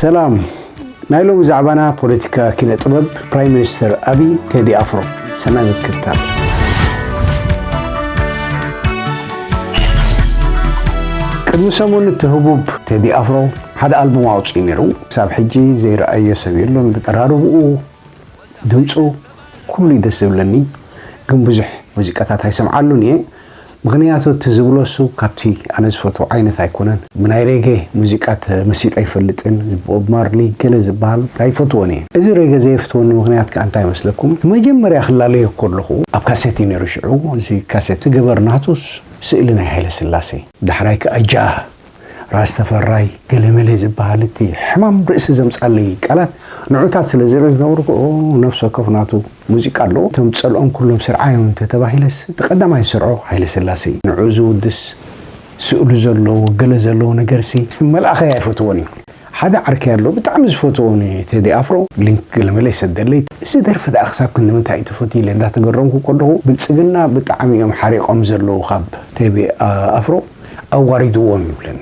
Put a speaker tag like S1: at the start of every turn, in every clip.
S1: ሰላም ናይ ሎሚ ዛዕባና ፖለቲካ ኪነ ጥበብ ፕራይም ሚኒስተር ኣብይ ቴዲ ኣፍሮ ሰናይ ምክትታል። ቅድሚ ሰሙን እቲ ህቡብ ቴዲ ኣፍሮ ሓደ ኣልቡም ኣውፅኡ ነይሩ። ክሳብ ሕጂ ዘይረኣዮ ሰብ የሎን ብጠራርብኡ ድምፁ ኩሉ እዩ ደስ ዝብለኒ ግን ብዙሕ ሙዚቃታት ኣይሰምዓሉን እየ። ምኽንያቱ እቲ ዝብሎሱ ካብቲ ኣነ ዝፈትዎ ዓይነት ኣይኮነን ብናይ ሬጌ ሙዚቃ ተመሲጠ ኣይፈልጥን ዝቦብ ማርሊ ገለ ዝብሃል ኣይፈትዎን እየ እዚ ሬጌ ዘየፍትወኒ ምኽንያት ክኣ እንታይ መስለኩም መጀመርያ ክላለዮ ከለኹ ኣብ ካሴት እዩ ነይሩ ሽዑ እዚ ካሴት ገበር ናቱስ ስእሊ ናይ ሃይለስላሴ ዳሕራይ ክኣ ጃህ ራስ ተፈራይ ገለመለ ዝብሃል እቲ ሕማም ርእሲ ዘምጻለይ ቃላት ንዑታት ስለ ዝረዘርክኦ ነፍሲ ወከፍ ናቱ ሙዚቃ ኣለዎ። እቶም ጸልኦም ኩሎም ስርዓዮም እንተ ተባሂለስ እቲ ቀዳማይ ዝሰርዖ ሃይለስላሰ እዩ። ንዕኡ ዝውድስ ስእሉ ዘለዎ ገለ ዘለዎ ነገርሲ መልኣኸይ ኣይፈትዎን እዩ። ሓደ ዓርከይ ኣሎ ብጣዕሚ ዝፈትዎ ን ቴዲ ኣፍሮ ሊንክ ገለመለ ይሰደለይ እዚ ደርፊ ደኣ ክሳብ ክንድምንታይ እዩ ተፈትዩ ኢለ እንዳተገረምኩ ከለኹ ብልጽግና ብጣዕሚ እዮም ሓሪቆም ዘለዉ ካብ ቴቢ ኣፍሮ ኣዋሪድዎም ይብለኒ።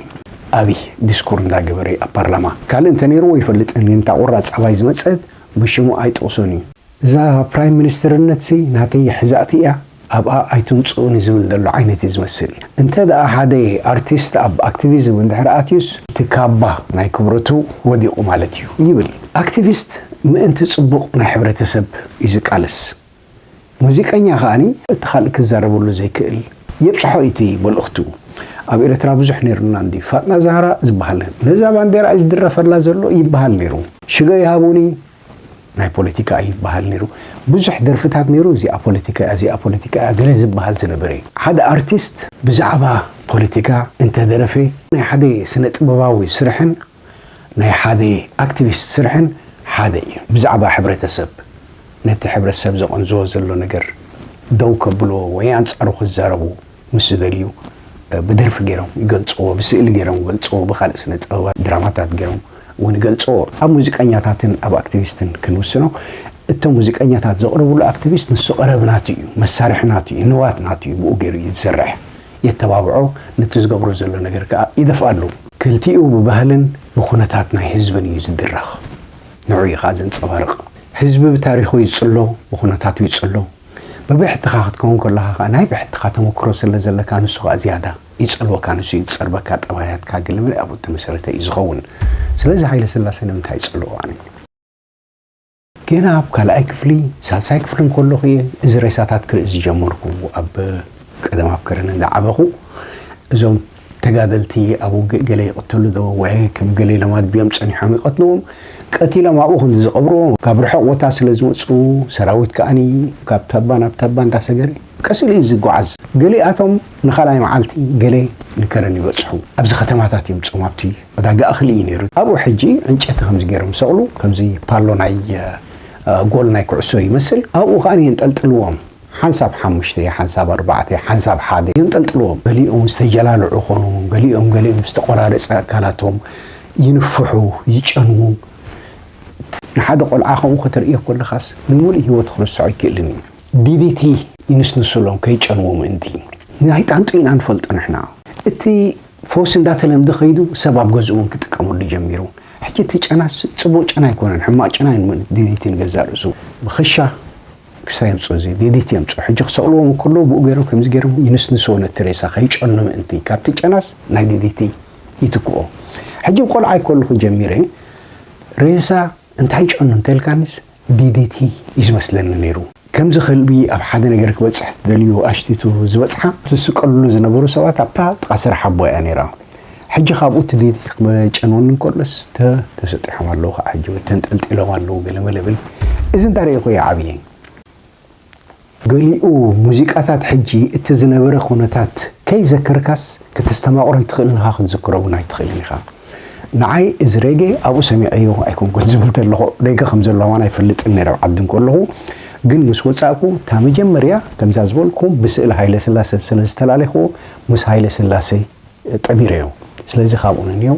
S1: ኣብይ ዲስኩር እንዳገበረ ኣብ ፓርላማ ካልእ እንተኔርዎ ይፈልጥ እን እንታ ቁራጽ ኣባይ ዝመጸት ብሽሙ ኣይጥቅሶን እዩ። እዛ ፕራይም ሚኒስትርነትሲ ናተይ ይሕዛእቲ እያ ኣብኣ ኣይትምጽኡኒ ዝብል ዘሎ ዓይነት እዩ ዝመስል። እንተ ደኣ ሓደ ኣርቲስት ኣብ ኣክቲቪዝም እንድሕር ኣትዩስ እቲ ካባ ናይ ክብረቱ ወዲቑ ማለት እዩ ይብል። ኣክቲቪስት ምእንቲ ጽቡቕ ናይ ሕብረተሰብ እዩ ዝቃለስ። ሙዚቀኛ ከኣ እቲ ካልእ ክዛረበሉ ዘይክእል የብጽሖ እዩ እቲ መልእኽቱ። ኣብ ኤርትራ ብዙሕ ነይሩና እንድዩ ፋጥና ዛህራ ዝበሃል ነዛ ባንዴራ እዩ ዝድረፈላ ዘሎ ይበሃል ነይሩ። ሽዶ ይሃቡኒ ናይ ፖለቲካ እዩ ይበሃል ነይሩ ብዙሕ ደርፍታት ነይሩ እዚኣ ፖለቲካ እያ እዚኣ ፖለቲካ እያ ገለ ዝበሃል ዝነበረ እዩ። ሓደ ኣርቲስት ብዛዕባ ፖለቲካ እንተደረፈ ናይ ሓደ ስነ ጥበባዊ ስርሕን ናይ ሓደ ኣክቲቪስት ስርሕን ሓደ እዩ ብዛዕባ ሕብረተሰብ ነቲ ሕብረተሰብ ዘቐንዝዎ ዘሎ ነገር ደው ከብልዎ ወይ ኣንጻሩ ክዛረቡ ምስ ዝደልዩ ብደርፊ ገይሮም ይገልጽዎ፣ ብስእሊ ገይሮም ይገልጽዎ፣ ብኻልእ ስነ ጥበባት ድራማታት ገይሮም እውን ይገልጽዎ። ኣብ ሙዚቀኛታትን ኣብ ኣክቲቪስትን ክንውስኖ እቶም ሙዚቀኛታት ዘቕርብሉ ኣክቲቪስት ንሱ ቀረብ ናቱ እዩ፣ መሳርሒ ናቱ እዩ፣ ንዋት ናቱ እዩ፣ ብኡ ገይሩ እዩ ዝሰርሕ፣ የተባብዖ፣ ነቲ ዝገብሮ ዘሎ ነገር ከኣ ይደፍኣሉ። ክልቲኡ ብባህልን ብኩነታት ናይ ህዝብን እዩ ዝድረኽ፣ ንዕኡ እዩ ከኣ ዘንጸባርቕ። ህዝቢ ብታሪኹ ይጽሎ፣ ብኩነታቱ ይጽሎ። ብብሕትኻ ክትከውን ከሎኻ ከኣ ናይ ብሕትኻ ተመክሮ ስለ ዘለካ ንሱ ከኣ ዝያዳ ይጸልወካ ንሱ እዩ ዝጸርበካ ጠባያትካ ግልምዕ ኣብኡ እተመሰረተ እዩ ዝኸውን ስለዚ ሃይለስላሰ ንምንታይ እጸልኦ ኣነ ገና ኣብ ካልኣይ ክፍሊ ሳልሳይ ክፍሊ እንከሎኹ እየ እዚ ሬሳታት ክርኢ ዝጀመርኩ ኣብ ቀደም ኣብ ከረን እንዳዓበኹ እዞም ተጋደልቲ ኣብ ውግእ ገለ ይቕተሉ ዶ ወዔ ከም ገለ ኢሎም ኣድብዮም ጸኒሖም ይቐትልዎም ቀቲሎም ኣብኡ ከምዚ ዝቐብርዎ ካብ ርሑቕ ቦታ ስለ ዝመጹ ሰራዊት ከኣ ካብ ታባ ናብ ታባ እንዳ ሰገረ ቀስ ኢሉ እዩ ዝጓዓዝ ገሊኣቶም ንኻልኣይ መዓልቲ ገለ ንከረን ይበጽሑ ኣብዚ ከተማታት እዮም ጾም ኣብቲ ዕዳጋ እኽሊ እዩ ነይሩ ኣብኡ ሕጂ ዕንጨቲ ከምዚ ገይሮም ይሰቕሉ ከምዚ ፓሎ ናይ ጎል ናይ ኩዕሶ ይመስል ኣብኡ ከኣ የንጠልጥልዎም ሓንሳብ ሓሙሽተ፣ ሓንሳብ ኣርባዕተ፣ ሓንሳብ ሓደ የንጠልጥልዎም። ገሊኦም ዝተጀላልዑ ኾኑ፣ ገሊኦም ገሊኦም ዝተቖራረጸ ኣካላቶም ይንፍሑ፣ ይጨንዉ። ንሓደ ቆልዓ ከምኡ ከተርእዮ ከለኻስ ንምሉእ ህይወቱ ክርሰዖ ኣይክእልን እዩ። DDT ይንስንሱሎም ከይጨንዉ ምእንቲ። ናይ ጣንጡ ኢና ንፈልጦ ንሕና። እቲ ፈውሲ እንዳተለምደ ከይዱ ሰብ ኣብ ገዝኡ እውን ክጥቀመሉ ጀሚሩ። ሕጂ እቲ ጨናስ ጽቡቕ ጨና ኣይኮነን፣ ሕማቕ ጨና እዩ DDT ንገዛእ ርእሱ። ብክሻ ክሳብ የምጽኡ እዚ ሌሊት የምጽኡ ሕጂ ክሰቅልዎም እንከለዉ ብኡ ገይሮም ከምዚ ገይሮም ይንስንስዎ ነቲ ሬሳ ከይጨኑ ምእንቲ ካብቲ ጨናስ ናይ ሌሊቲ ይትክኦ ሕጂ ቆልዓይ ከለኹ ጀሚረ ሬሳ እንታይ ጨኑ እንተልካኒስ ዲዲቲ እዩ ዝመስለኒ ነይሩ ከምዚ ከልቢ ኣብ ሓደ ነገር ክበጽሕ ትደልዩ ኣሽቲቱ ዝበጽሓ ዝስቀልሉ ዝነበሩ ሰባት ኣብታ ጥቃ ስራሕ ኣቦይ እያ ነይራ ሕጂ ካብኡ እቲ ቤት ክጨንወኒ እንከሎስ ተሰጢሖም ኣለዉ ከኣ ሕጂ ወይ ተንጠልጢሎም ኣለዉ ገለመለ እብል እዚ እንታ ርኤኩ እየ ዓብየ። ገሊኡ ሙዚቃታት ሕጂ እቲ ዝነበረ ኩነታት ከይዘከርካስ ከተስተማቕሮ ኣይትኽእልን ኢኻ ክትዝክሮ ውን ኣይትኽእልን ኢኻ። ንዓይ እዚ ሬጌ ኣብኡ ሰሚዐዮ ኣይኮንኩን ዝብል ተለኹ ሬገ ከም ዘሎ ኣማን ኣይፈልጥን ነይረ ኣብ ዓዲ እንከለኹ ግን ምስ ወጻእኩ እታ መጀመርያ ከምዛ ዝበልኩም ብስእሊ ሃይለስላሰ ስለ ዝተላለኹዎ ምስ ሃይለስላሰ ጠቢረዮ ስለዚ ካብኡ ንንየው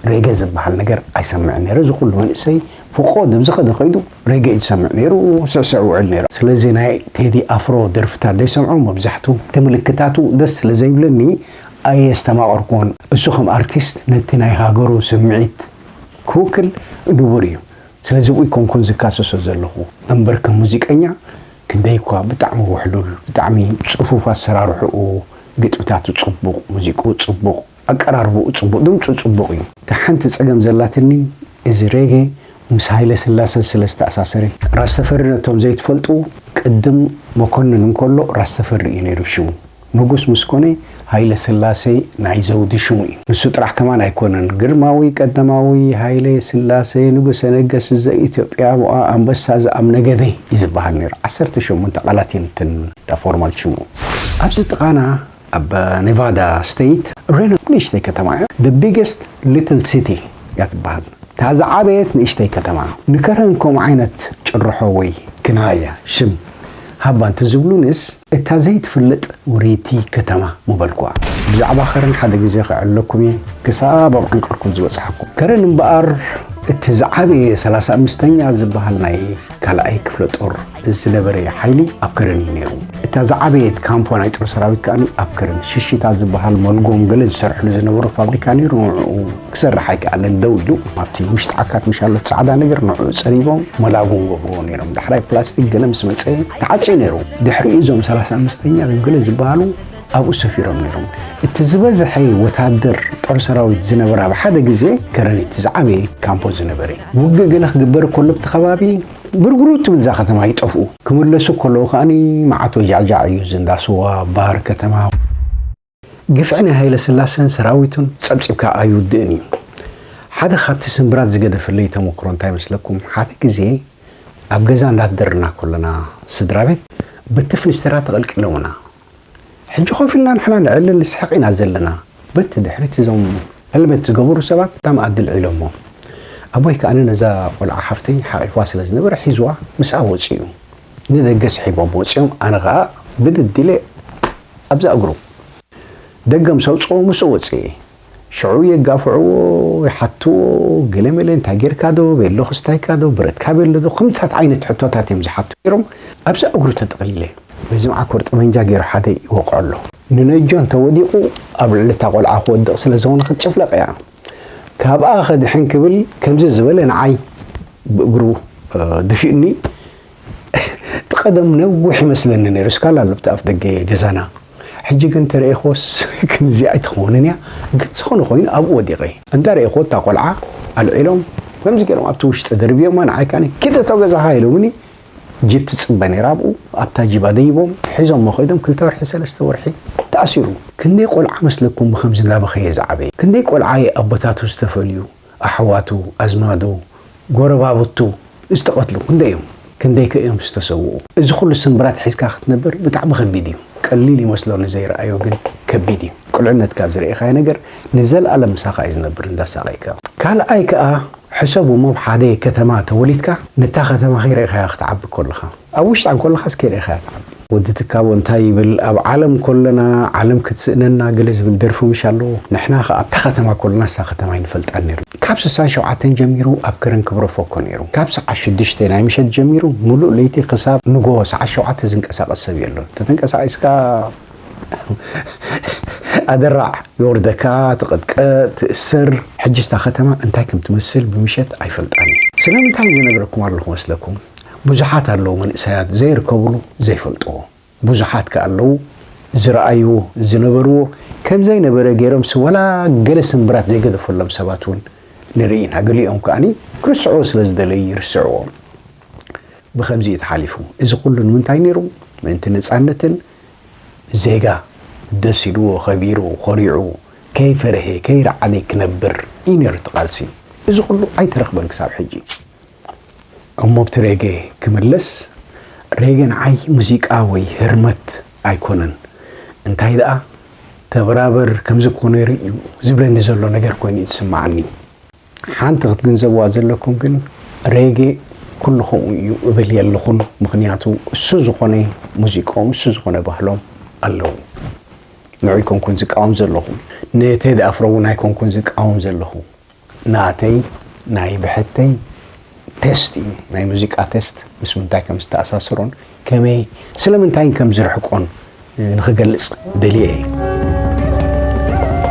S1: ሬገ ዝብሃል ነገር ኣይሰምዕን ነይረ እዚ ኩሉ መንእሰይ ፍቆ ደብዝኸደ ከይዱ ሬገ እዩ ዝሰምዕ ነይሩ ስዕስዕ ውዕል ነይሩ ስለዚ ናይ ቴዲ ኣፍሮ ደርፍታት ዘይሰምዖ መብዛሕቱ ትምልክታቱ ደስ ስለ ዘይብለኒ ኣየስተማቀርኩዎን እሱ ከም ኣርቲስት ነቲ ናይ ሃገሩ ስምዒት ክውክል ንቡር እዩ ስለዚ ኣይኮንኩን ዝካሰሶ ዘለኹ። እምበር ከም ሙዚቀኛ ክንደይ እኳ ብጣዕሚ ውሕሉል ብጣዕሚ ጽፉፍ ኣሰራርሑኡ ግጥምታቱ ጽቡቅ ሙዚቁኡ ጽቡቅ ኣቀራርቡኡ ጽቡቅ ድምጹ ጽቡቅ እዩ። እታ ሓንቲ ጸገም ዘላትኒ እዚ ሬጌ ምስ ሃይለስላሰ ስለ ዝተኣሳሰረ። ራስ ተፈሪ ነቶም ዘይትፈልጡ ቅድም መኮንን እንከሎ ራስ ተፈሪ እዩ ነይሩ ሽሙ። ንጉስ ምስ ኮነ ሃይለስላሴ ናይ ዘውዲ ሽሙ እዩ። ንሱ ጥራሕ ከማን ኣይኮነን ግርማዊ ቀዳማዊ ሃይለ ስላሴ ንጉሰ ነገስት ዘኢትዮጵያ ሞኣ ኣንበሳ ዘኣምነገደ እዩ ዝበሃል ነይሩ። ዓሰርተ ሸሞንተ ቃላት እየን እተን እታ ፎርማል ሽሙ። ኣብዚ ጥቓና ኣብ ኔቫዳ ስተይት ሬኖ ንእሽተይ ከተማ እያ። The Biggest Little City እያ ትበሃል። እታ ዝዓበየት ንእሽተይ ከተማ። ንከረን ከምኡ ዓይነት ጭርሖ ወይ ግናይ እያ ሽም ሃባ እንተዝብሉንስ። እታ ዘይትፍለጥ ውርይቲ ከተማ ምበልኩዋ። ብዛዕባ ከረን ሓደ ግዜ ክዕለኩም እየ፣ ክሳብ ኣብ ዓንቀርኩም ዝበጽሓኩም። ከረን እምበኣር እቲ ዝዓበየ ሰላሳ ኣምስተኛ ዝበሃል ናይ ካልኣይ ክፍለጦር ዝነበረ ሓይሊ ኣብ ከረን እዩ ነይሩ። እታ ዝዓበየት ካምፖ ናይ ጦር ሰራዊት ከኣ ኣብ ከረን ሽሽታ ዝበሃል መልጎም ገለ ዝሰርሕሉ ዝነበሩ ፋብሪካ ነይሩ ንዕኡ ክሰርሕ ኣይከኣለን ደው ኢሉ ኣብቲ ውሽጢ ዓካት ምሻሎት ጻዕዳ ነገር ንዕኡ ጸሪቦም ሞላቡ ገብርዎ ነይሮም ዳሕራይ ፕላስቲክ ገለ ምስ መጸ ተዓጽዩ ነይሩ ድሕሪኡ እዞም ሰላሳ ኣምስተኛ ገለ ዝበሃሉ ኣብኡ ሰፊሮም ነይሮም እቲ ዝበዝሐ ወታደር ጦር ሰራዊት ዝነበረ ኣብ ሓደ ግዜ ከረሪት ዝዓበየ ካምፖ ዝነበረ ውግእ ገለ ክግበር ከሎ ኣብቲ ከባቢ ብርግሩ ትብል እዛ ከተማ ይጠፍኡ ክምለሱ ከለዉ ከኣ መዓት ወጃዕጃዕ እዩ ዝንዳስዋ ባር ከተማ ግፍዒ ናይ ሃይለስላሰን ሰራዊቱን ጸብጺብካ ኣይውድእን እዩ። ሓደ ካብቲ ስንብራት ዝገደፈለይ ተመክሮ እንታይ መስለኩም ሓደ ግዜ ኣብ ገዛ እንዳደርና ኮለና ስድራቤት በቲ ፍኒስተራ ተቐልቂሎምና ሕጂ ኮፍ ኢልና ንሕና ንዕልን ንስሕቕ ኢና ዘለና በቲ ድሕሪት እዞም ሄልመት ዝገበሩ ሰባት እታ መኣዲ ኣልዒሎሞ ኣቦይ ከኣ ነዛ ቆልዓ ሓፍተይ ሓቒፍዋ ስለ ዝነበረ ሒዝዋ ምስኣ ወጺኡ ንደገ ስሒቦም ወጺኦም ኣነ ከኣ ብድድ ኢለ ኣብዛ እግሩ ደገ ምስ ኣውጽኦ ምስኡ ወጺኤ። ሽዑ የጋፍዕዎ ይሓትዎ ገለ መለ እንታይ ጌርካ ዶ ቤሎ ክስታይካ ዶ ብረትካ ቤሎ ዶ ከምዚታት ዓይነት ሕቶታት እዮም ዝሓቱ ኔሮም ኣብዛ እግሩ ተጠቕሊለ። በዚ መዓኮር ጠበንጃ ጌሩ ሓደ ይወቕዖ ኣሎ። ንነጆ እንተ ወዲቑ ኣብ ልዕሊ እታ ቆልዓ ክወድቕ ስለ ዝኾነ ክትጭፍለቕ እያ። ካብኣ ከድሕን ክብል ከምዚ ዝበለ ንዓይ ብእግሩ ደፊኡኒ እቲ ቀደም ነዊሕ ይመስለኒ ነይሩ እስካላ ኣሎ ኣብቲ ኣፍ ደገ ገዛና ሕጂ ግን ተረኢክዎስ ክንዚ ኣይትኸውንን እያ ግን ዝኾነ ኮይኑ ኣብኡ ወዲቀ እንዳ ረኢክዎ እታ ቆልዓ ኣልዒሎም ከምዚ ገይሮም ኣብቲ ውሽጢ ደርብዮማ ንዓይ ከኣ ኪድ እቶ ገዛኻ ኢሎምኒ ጅብ ትጽበ ነይራ ኣብኡ ኣብታ ጅብ ኣደይቦም ሒዞሞ ከይዶም ክልተ ወርሒ ሰለስተ ወርሒ ተኣሲሩ። ክንደይ ቆልዓ መስለኩም ብከምዚ እንዳበኸየ ዝዓበየ ክንደይ ቆልዓ እየ ኣቦታቱ ዝተፈልዩ ኣሕዋቱ ኣዝማዱ ጎረባብቱ ዝተቀትሉ ክንደይ እዮም ክንደይ ከ እዮም ዝተሰውኡ እዚ ኩሉ ስንብራት ሒዝካ ክትነብር ብጣዕሚ ከቢድ እዩ ቀሊል ይመስሎ ንዘይረኣዮ ግን ከቢድ እዩ ቁልዕነትካ ዝረኤኻዮ ነገር ንዘልኣለም ምሳኻ እዩ ዝነብር እንዳሳቀይካ ካልኣይ ከኣ ሕሰቡ እሞ ሓደ ከተማ ተወሊድካ ነታ ከተማ ከይረኢኻያ ክትዓቢ ኮለኻ ኣብ ውሽጣ እንኮለኻስ ከይረኢኻያ ትዓቢ። ወዲ ትካቦ እንታይ ይብል ኣብ ዓለም ኮለና ዓለም ክትስእነና ገለ ዝብል ደርፊ ምሽ ኣለዎ ንሕና ከኣ ኣብታ ከተማ ኮለና እሳ ከተማ ኣይንፈልጣን ኔርና ካብ ስሳን ሸውዓተን ጀሚሩ ኣብ ከረን ክብረፎ እኮ ኔሩ ካብ ሰዓት ሽዱሽተ ናይ ምሸት ጀሚሩ ምሉእ ለይቲ ክሳብ ንጎሆ ሰዓት ሸውዓተ ዝንቀሳቀስ ሰብ የሎን ተተንቀሳቂስካ ኣደራዕ የውርደካ ትቅጥቀጥ ትእሰር ሕጅስ እታ ከተማ እንታይ ከም ትመስል ብምሸት ኣይፈልጣን እየ ስለምንታይ ዝነግረኩም ኣለኩ መስለኩም ብዙሓት ኣለዉ መንእሰያት ዘይርከብሉ ዘይፈልጥዎ ብዙሓት ከኣ ኣለዉ ዝረኣይዎ ዝነበርዎ ከምዘይ ነበረ ገይረምሲ ወላ ገለ ስምብራት ዘይገደፈሎም ሰባት ውን ንርኢ ኢና ገሊኦም ከኣ ክርስዑዎ ስለ ዝደለዩ ይርስዕዎ ብከምዚ እዩ ተሓሊፉ እዚ ኩሉ ንምንታይ ነይሩ ምእንቲ ነጻነትን ዜጋ ደስ ኢልዎ ከቢሩ ኮሪዑ ከይፈረሔ ከይረዓዴ ክነብር እዩ ነይሩ እቲ ቃልሲ እዚ ኩሉ ኣይተረኽበን ክሳብ ሕጂ እሞ ኣብቲ ሬጌ ክምለስ ሬጌ ንዓይ ሙዚቃ ወይ ህርመት ኣይኮነን እንታይ ደኣ ተበራበር ከምዚ እኮ ነይሩ እዩ ዝብለኒ ዘሎ ነገር ኮይኑ እዩ ዝስመዓኒ። ሓንቲ ክትግንዘብዋ ዘለኩም ግን ሬጌ ኩሉ ከምኡ እዩ እብል የለኹን ምኽንያቱ እሱ ዝኾነ ሙዚቆም እሱ ዝኾነ ባህሎም ኣለዉ ንዑ ኣይኮንኩን ዝቃወም ዘለኹ ንቴዲ ኣፍሮ እውን ኣይኮንኩን ዝቃወም ዘለኹ ናተይ ናይ ብሕተይ ቴስት እዩ ናይ ሙዚቃ ቴስት ምስ ምንታይ ከም ዝተኣሳስሮን ከመይ ስለምንታይን ከም ዝርሕቆን ንክገልጽ ደልየ እዩ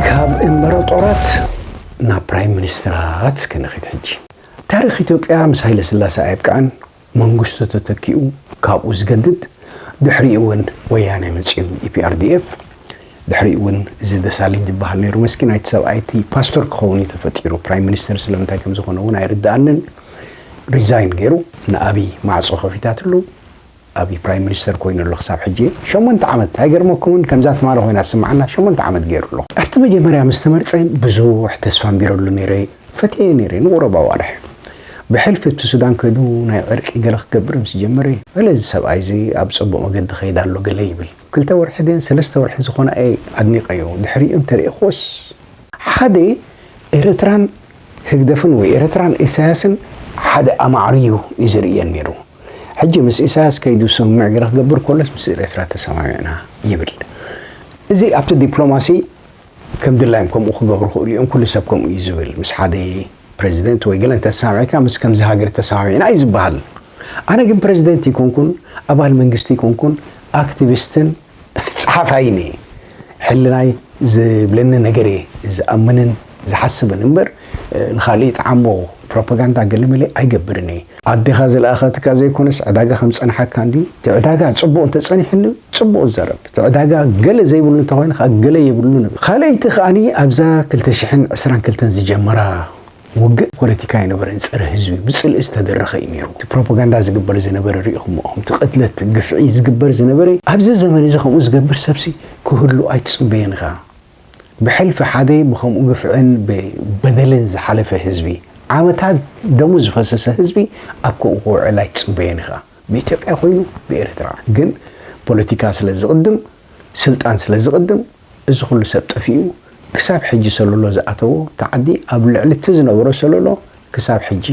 S1: ካብ እምበረጦራት ናብ ፕራይም ሚኒስትራት እስከ ንኺድ ሕጂ ታሪኽ ኢትዮጵያ ምስ ሃይለ ስላሰ ኣየብቅዐን መንግስቱ ተተኪኡ ካብኡ ዝገድድ ድሕሪኡ እውን ወያነ መጺኡ ኢፒኣርዲኤፍ ድሕሪኡ ውን እዚ ደሳለኝ ዝባሃል ነይሩ መስኪናይ እቲ ሰብኣይ እቲ ፓስቶር ክኸውን እዩ ተፈጢሩ ፕራይም ሚኒስተር ስለምንታይ ከም ዝኾነ ውን ኣይርድኣንን ሪዛይን ገይሩ ንኣብይ ማዕጾ ከፊታትሉ ኣብይ ፕራይም ሚኒስተር ኮይኑ ኣሎ ክሳብ ሕጂ ሸሞንተ ዓመት ኣይገርመኩምን ከምዛ ትማሊ ኮይና ዝስምዓና ሸሞንተ ዓመት ገይሩ ኣሎ ኣብቲ መጀመርያ ምስ ተመርጸ ብዙሕ ተስፋ ኣንቢረሉ ነይረ ፈትየዮ ነይረ ንቑሩብ ኣዋርሕ ብሕልፊ ኣብቲ ሱዳን ከይዱ ናይ ዕርቂ ገለ ክገብር ምስ ጀመረ ገለ እዚ ሰብኣይ እዚ ኣብ ጽቡቕ መገዲ ከይድ ኣሎ ገለ ይብል ክልተ ወርሒ ድየን ሰለስተ ወርሒ ዝኾና እየ ኣድኒቀዮ ድሕሪኡ እንተሪእክዎስ ሓደ ኤረትራን ህግደፍን ወይ ኤረትራን ኢሳያስን ሓደ ኣማዕርዩ እዩ ዝርእየን ኔሩ ሕጂ ምስ ኢሳያስ ከይዱ ስምምዕ ገለ ክገብር ኮሎስ ምስ ኤረትራ ተሰማሚዕና ይብል እዚ ኣብቲ ዲፕሎማሲ ከም ድላዮም ከምኡ ክገብሩ ክእሉ እዮም፣ ኩሉ ሰብ ከምኡ እዩ ዝብል፣ ምስ ሓደ ፕረዚደንት ወይ ገለ እንተ ተሰማሚዕካ ምስ ከምዚ ሃገር ተሰማሚዕና እዩ ዝበሃል። ኣነ ግን ፕረዚደንት እይኮንኩን፣ ኣባል መንግስቲ እይኮንኩን፣ ኣክቲቪስትን ጸሓፋይን እየ። ሕልናይ ዝብለኒ ነገር እየ ዝኣምንን ዝሓስብን እምበር ንኻልእ ይጥዓሞ፣ ፕሮፖጋንዳ ገለመለ ኣይገብርን እየ። ኣዴኻ ዝለኣኸትካ ዘይኮነስ ዕዳጋ ከም ዝጸንሓካ እንድዩ። እቲ ዕዳጋ ጽቡቕ እንተጸኒሑኒ ጽቡቕ ዝዘረብ፣ እቲ ዕዳጋ ገለ ዘይብሉ እንተኾይኑ ከኣ ገለ የብሉን እብል። ካልኣይቲ ከኣ ኣብዛ ክልተ ሽሕን ዕስራን ክልተን ዝጀመራ ውግእ ፖለቲካ ኣይነበረን፣ ጸረ ህዝቢ ብጽልኢ ዝተደረኸ እዩ ነይሩ። እቲ ፕሮፖጋንዳ ዝግበር ዝነበረ ርኢኹሞ ኢኹም፣ እቲ ቅትለት፣ ግፍዒ ዝግበር ዝነበረ። ኣብዚ ዘመን እዚ ከምኡ ዝገብር ሰብሲ ክህሉ ኣይትጽበዮን ኢኻ። ብሕልፊ ሓደ ብከምኡ ግፍዕን ብበደልን ዝሓለፈ ህዝቢ፣ ዓመታት ደሙ ዝፈሰሰ ህዝቢ ኣብ ከምኡ ክውዕል ኣይትጽበዮን ኢኻ። ብኢትዮጵያ ኮይኑ ብኤርትራ ግን ፖለቲካ ስለ ዝቕድም ስልጣን ስለ ዝቕድም እዚ ኩሉ ሰብ ጠፊኡ ክሳብ ሕጂ ሰሎሎ ዝኣተዎ ተዓዲ ኣብ ልዕሊ እቲ ዝነበሮ ሰሎሎ ክሳብ ሕጂ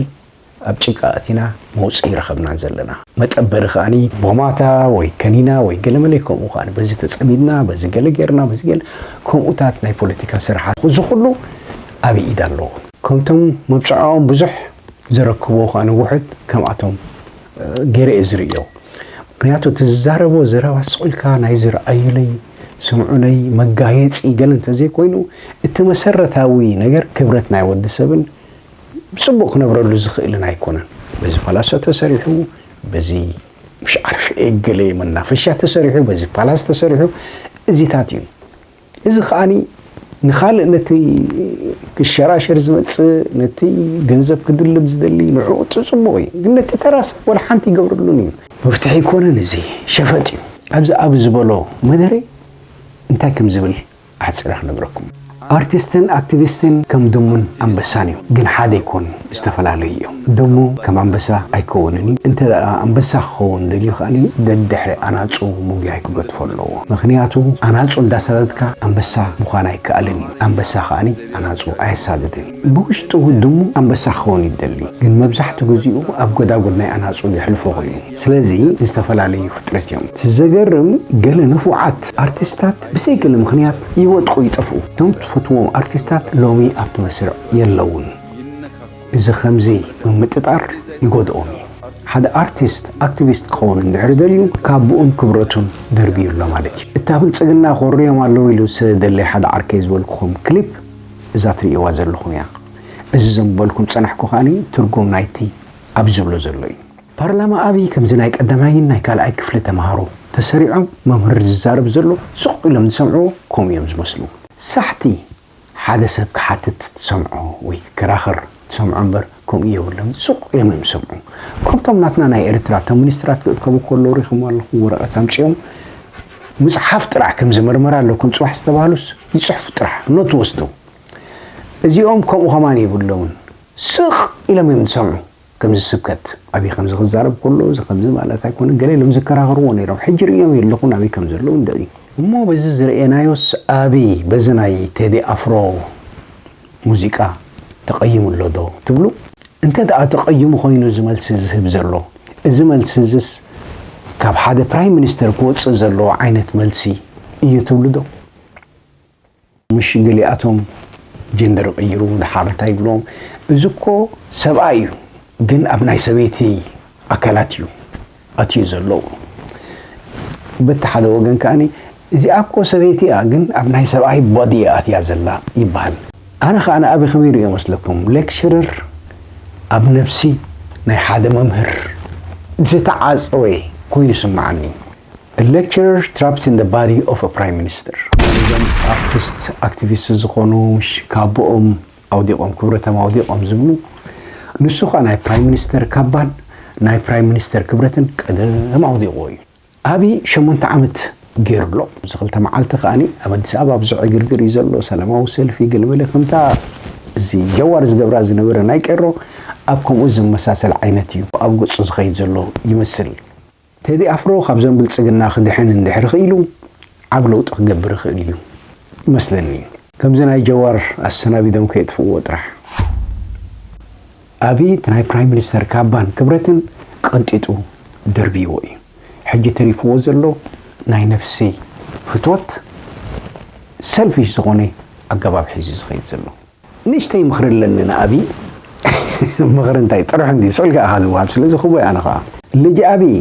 S1: ኣብ ጭቃ ኣቲና መውጽኢ ረኸብናን ዘለና። መጠበሪ ከኣ ቦማታ ወይ ከኒና ወይ ገለመለ ከምኡ ከኣ በዚ ተጸሚድና በዚ ገለ ጌርና በዚ ገለ ከምኡታት ናይ ፖለቲካ ስርሓት እዚ ኩሉ ኣበይ ኢድ ኣለዎ? ከምቶም መብጽዓኦም ብዙሕ ዘረክብዎ ከኣ ውሑድ ከምኣቶም ጌረ እየ ዝርእዮ። ምክንያቱ እቲ ዝዛረቦ ዘረባ ስቕ ኢልካ ናይዚ ርኣዩለይ ስምዑለይ መጋየጺ ገለ እንተዘይኮይኑ እቲ መሰረታዊ ነገር ክብረት ናይ ወዲ ሰብን ብጽቡቕ ክነብረሉ ዝኽእልን ኣይኮነን። በዚ ፓላሶ ተሰሪሑ በዚ ምሽ ዓርፍ ኤገሌ መናፈሻ ተሰሪሑ በዚ ፓላስ ተሰሪሑ እዚታት እዩ። እዚ ከኣ ንኻልእ ነቲ ክሸራሸር ዝመጽእ ነቲ ገንዘብ ክድልብ ዝደሊ ንዕኡ ጽጽቡቕ እዩ ግን ነቲ ተራ ሰብ ወላ ሓንቲ ይገብረሉን እዩ። መፍትሒ ኣይኮነን እዚ ሸፈጥ እዩ። ኣብዚ ኣብ ዝበሎ መደረ እንታይ ከም ዝብል ኣሕጺረ ክነግረኩም። ኣርቲስትን ኣክቲቪስትን ከም ድሙን ኣንበሳን እዮም ግን ሓደ ኣይኮኑን ዝተፈላለዩ እዮም ድሙ ከም ኣንበሳ ኣይከውንን እዩ እንተ ኣንበሳ ክኸውን ደልዩ ከኣ ደድሕሪ ኣናጹ ምጉያይ ክገድፎ ኣለዎ ምኽንያቱ ኣናጹ እንዳሳደድካ ኣንበሳ ምዃን ኣይከኣልን እዩ ኣንበሳ ከኣ ኣናጹ ኣየሳድድን እዩ ብውሽጡ ድሙ ኣንበሳ ክኸውን እዩ ዝደሊ ግን መብዛሕቱ ግዚኡ ኣብ ጎዳጉድ ናይ ኣናጹ የሕልፎ ኮይኑ ስለዚ ዝተፈላለዩ ፍጥረት እዮም እቲ ዘገርም ገለ ንፉዓት ኣርቲስታት ብሰይ ገለ ምኽንያት ይወድቁ ይጠፍኡ። እቶም ትፈትዎም ኣርቲስታት ሎሚ ኣብቲ መስርዕ የለዉን። እዚ ከምዚ ምምጥጣር ይጎድኦም እዩ። ሓደ ኣርቲስት ኣክቲቪስት ክኸውን እንድሕር ደልዩ ካቡኡን ክብረቱን ደርብዩ ኣሎ ማለት እዩ። እታ ብልጽግና ኮርዮም ኣለዉ ኢሉ ስለ ዝደለየ ሓደ ዓርከይ ዝበልኩኹም ክሊፕ እዛ ትርእይዋ ዘለኹም እያ። እዚ ዘንበልኩም ዝጸናሕኩ ከኣ ትርጉም ናይቲ ኣብዚ ዝብሎ ዘሎ እዩ። ፓርላማ ኣብይ ከምዚ ናይ ቀዳማይን ናይ ካልኣይ ክፍሊ ተማሃሮ ተሰሪዖም መምህር ዝዛረብ ዘሎ ስቅ ኢሎም ዝሰምዕዎ ከምኡ እዮም ዝመስሉ። ሳሕቲ ሓደ ሰብ ክሓትት ትሰምዖ ወይ ክከራኸር ትሰምዖ እምበር ከምኡ የብሎምን ስቅ ኢሎም እዮም ዝሰምዑ ከምቶም ናትና ናይ ኤርትራ እቶም ሚኒስትራት ክእከቡ ከለዉ ሪኢኹሞ ኣለኹ ወረቀት ኣምጺኦም ምጽሓፍ ጥራሕ ከምዚ መርመራ ኣለኩም ጽባሕ ዝተባህሉስ ይጽሕፉ ጥራሕ ኖት ወስዶም እዚኦም ከምኡ ከማን የብሎምን ስቅ ኢሎም እዮም ዝሰምዑ ከምዚ ስብከት ኣብይ ከምዚ ክዛረብ ከሎ እዚ ከምዚ ማለት ኣይኮነን ገለ ኢሎም ዝከራኸርዎ ነይሮም ሕጂ ርእዮም የለኹን ኣብይ ከምዘለዉ እንድዒ። እሞ በዚ ዝረኤናዮስ ኣብይ በዚ ናይ ቴዲ ኣፍሮ ሙዚቃ ተቐይሙ ኣሎ ዶ ትብሉ? እንተ ደኣ ተቐይሙ ኮይኑ እዚ መልሲ ዝህብ ዘሎ እዚ መልሲ እዝስ ካብ ሓደ ፕራይም ሚኒስተር ክወጽእ ዘለዎ ዓይነት መልሲ እዩ ትብሉ ዶ? ምሽ ገሊኣቶም ጀንደር ይቅይሩ ድሓር እንታይ ይብሎም እዚ እኮ ሰብኣይ እዩ ግን ኣብ ናይ ሰበይቲ ኣካላት እዩ ኣትዩ ዘሎ በቲ ሓደ ወገን ከኣኒ እዚኣ እኮ ሰበይቲ እያ ግን ኣብ ናይ ሰብኣይ ቦዲ እያ ኣትያ ዘላ ይበሃል ኣነ ከኣ ንኣብይ ከመይ ርእዮ መስለኩም ሌክቸረር ኣብ ነብሲ ናይ ሓደ መምህር ዝተዓጸወ ኮይኑ ይስምዓኒ A lecturer trapped in the body of a Prime Minister። እዞም ኣርቲስት ኣክቲቪስት ዝኾኑ ምሽ ካቦኦም ኣውዲቆም ክብረቶም ኣውዲቆም ዝብሉ ንሱ ኸኣ ናይ ፕራይም ሚኒስተር ካባን ናይ ፕራይም ሚኒስተር ክብረትን ቀደም ኣውዲቁዎ እዩ ኣብይ ሸሞንተ ዓመት ጌሩ ኣሎ እዚ ክልተ መዓልቲ ከኣኒ ኣብ ኣዲስ ኣበባ ብዙሕ ዕግርግር እዩ ዘሎ ሰላማዊ ሰልፊ ገለመለ ከምታ እዚ ጀዋር ዝገብራ ዝነበረ ናይ ቄሮ ኣብ ከምኡ ዝመሳሰል ዓይነት እዩ ኣብ ገጹ ዝኸይድ ዘሎ ይመስል ቴዲ ኣፍሮ ካብዞም ብልጽግና ክድሕን እንድሕሪ ክኢሉ ዓቢ ለውጢ ክገብር ይኽእል እዩ ይመስለኒ። ከምዚ ናይ ጀዋር ኣሰናቢዶም ከየጥፍእዎ ጥራሕ። ኣብይ እቲ ናይ ፕራይም ሚኒስተር ካባን ክብረትን ቀንጢጡ ደርብይዎ እዩ ሕጂ ተሪፍዎ ዘሎ ናይ ነፍሲ ፍትወት ሰልፊሽ ዝኾነ ኣገባብ ሒዙ ዝኸይድ ዘሎ። ንእሽተይ ምኽሪ ኣለኒ ንኣብይ። ምኽሪ እንታይ ጥርሑ እንድዩ ስዕልካ ኢኻ ዝወሃብ ስለ ዝኽቦይ ኣነ ኸኣ። ልጅ ኣብይ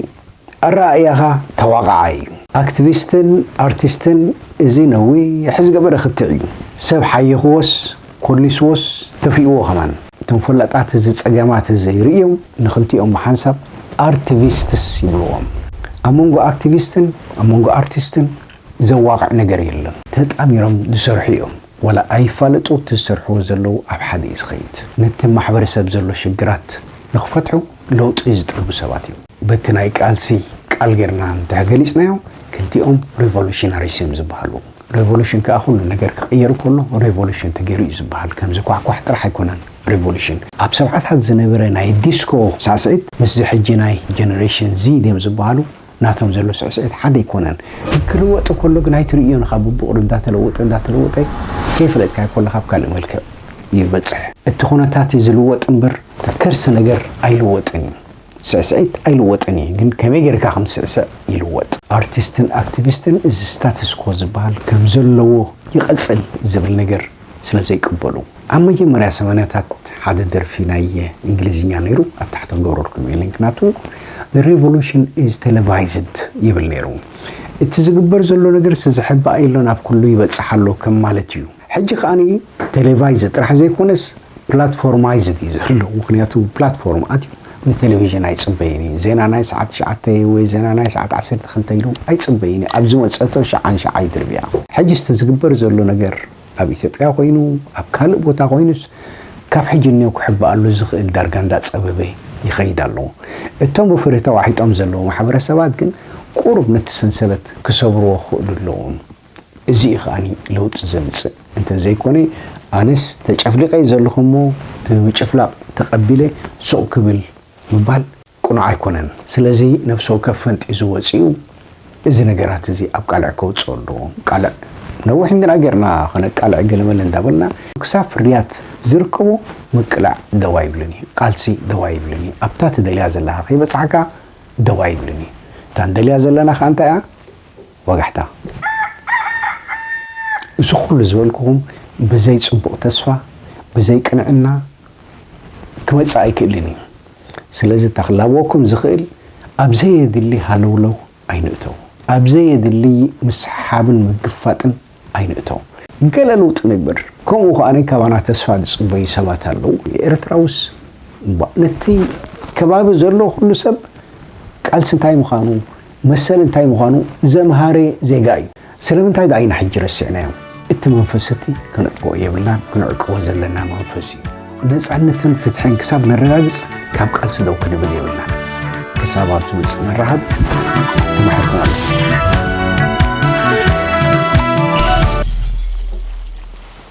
S1: ኣረኣእያኻ ተዋቓዓይ እዩ። ኣክትቪስትን ኣርቲስትን እዚ ነዊሕ ዝገበረ ክትዕ እዩ ሰብ ሓይኽዎስ ኮሊስዎስ ተፊእዎ ከማን። እቶም ፈላጣት እዚ ጸገማት እዚ ርእዮም ንኽልቲኦም ብሓንሳብ ኣርትቪስትስ ይብልዎም። ኣብ መንጎ ኣክትቪስትን ኣብ መንጎ ኣርቲስትን ዘዋቕዕ ነገር የለን ተጣሚሮም ዝሰርሑ እዮም ዋላ ኣይፋለጡ እቲ ዝሰርሕዎ ዘለዉ ኣብ ሓደ እዩ ዝኸይድ ነቲ ማሕበረሰብ ዘሎ ሽግራት ንኽፈትሑ ለውጢ ዝጠልቡ ሰባት እዮም በቲ ናይ ቃልሲ ቃል ጌርና እንድሕር ገሊጽናዮ ክልቲኦም ሪቮሉሽናሪስ እዮም ዝብሃሉ ሬቮሉሽን ከኣ ኩሉ ነገር ክቕየር ከሎ ሬቮሉሽን ተጌሩ እዩ ዝብሃል ከም ዝኳሕኳሕ ጥራሕ ኣይኮነን ሬቮሉሽን ኣብ ሰብዓታት ዝነበረ ናይ ዲስኮ ሳዕስዒት ምስዚ ሕጂ ናይ ጀነሬሽን ዚድ እዮም ዝብሃሉ ናቶም ዘሎ ስዕስዒት ሓደ ኣይኮነን ግን ክልወጥ ከሎ ግን ኣይትርእዮን ኢኻ ቡብቑሪ እንዳተለወጠ እንዳተለወጠ ከይፈለጥካዮ ከሎ ካብ ካልእ መልክዕ እዩ ዝበጽሕ እቲ ኩነታት እዩ ዝልወጥ እምበር እቲ ከርሲ ነገር ኣይልወጥን እዩ ስዕስዒት ኣይልወጥን እዩ ግን ከመይ ጌርካ ከም ትስዕስዕ ይልወጥ። ኣርቲስትን ኣክቲቪስትን እዚ ስታትስኮ ዝበሃል ከምዘለዎ ይቐጽል ዝብል ነገር ስለ ዘይቅበሉ። ኣብ መጀመርያ ሰማንያታት ሓደ ደርፊ ናይ እንግሊዝኛ ነይሩ ኣብ ታሕቲ ክገብረልኩም እየ ሊንክ ናቱ The revolution is televised ይብል ነይሩ እቲ ዝግበር ዘሎ ነገር ስዝሕባእ የሎን ኣብ ኩሉ ይበጽሕ ኣሎ ከም ማለት እዩ ሕጂ ከኣ ቴሌቫይዝድ ጥራሕ ዘይኮነስ ፕላትፎርማይዝድ እዩ ዘሎ ምክንያቱ ፕላትፎርም ኣትዩ ንቴሌቪዥን ኣይጽበይን እዩ ዜና ናይ ሰዓት ትሽዓተ ወይ ዜና ናይ ሰዓት ዓሰርተ ክልተ ኢሉ ኣይጽበይን እዩ ኣብ ዝመጸቶ ሽዓን ሽዓ ይድርብያ። ሕጂ እቲ ዝግበር ዘሎ ነገር ኣብ ኢትዮጵያ ኮይኑ ኣብ ካልእ ቦታ ኮይኑስ ካብ ሕጂ ንኔው ክሕባኣሉ ዝኽእል ዳርጋ እንዳ ጸበበ ይኸይድ ኣሎ እቶም ብፍርሂ ተዋሒጦም ዘለዉ ማሕበረሰባት ግን ቁሩብ ነቲ ሰንሰለት ክሰብርዎ ክኽእሉ ኣለዎም። እዚ እዩ ከኣ ለውጢ ዘምጽእ እንተ ዘይኮነ ኣነስ ተጨፍሊቐ እየ ዘለኹ እሞ እቲ ምጭፍላቕ ተቐቢለ ሱቕ ክብል ምባል ቅኑዕ ኣይኮነን። ስለዚ ነፍሲ ወከፍ ፈንጢዙ ወጺኡ እዚ ነገራት እዚ ኣብ ቃልዕ ከውጽኦ ኣለዎ። ቃልዕ ነዊሕ እንድና ጌርና ከነቃልዕ ገለመለ እንዳበልና ክሳብ ፍርያት ዝርከቦ ምቅላዕ ደው ኣይብልን እዩ። ቃልሲ ደው ኣይብልን እዩ። ኣብታ ትደልያ ዘለኻ ከይበጻሕካ ደው ኣይብልን እዩ። እታ ንደልያ ዘለና ከኣ እንታይ እያ? ወጋሕታ፣ እዚ ኩሉ ዝበልኩኹም ብዘይ ጽቡቕ ተስፋ፣ ብዘይ ቅንዕና ክመጽእ ኣይክእልን እዩ። ስለዚ እታ ክላበወኩም ዝኽእል ኣብ ዘየድሊ ሃለውለው ኣይንእተው፣ ኣብ ዘየድሊ ምስሕሓብን ምግፋጥን ኣይንእቶ። ገለ ለውጢ ንግበር። ከምኡ ከኣ ካባና ተስፋ ዝጽበዩ ሰባት ኣለዉ። ኤርትራውስ እባ ነቲ ከባቢ ዘሎ ኩሉ ሰብ ቃልሲ እንታይ ምዃኑ መሰል እንታይ ምዃኑ ዘምሃረ ዜጋ እዩ። ስለምንታይ ደኣ ኢና ሕጂ ረሲዕናዮ? እቲ መንፈስ እቲ ከነጥፍኦ የብልናን ክንዕቅቦ ዘለና መንፈስ እዩ። ነፃነትን ፍትሕን ክሳብ ነረጋግፅ ካብ ቃልሲ ደው ክንብል የብልና ክሳብ ኣብ ዝመፅእ ንራኸብ ተማሕርኩም ኣሎ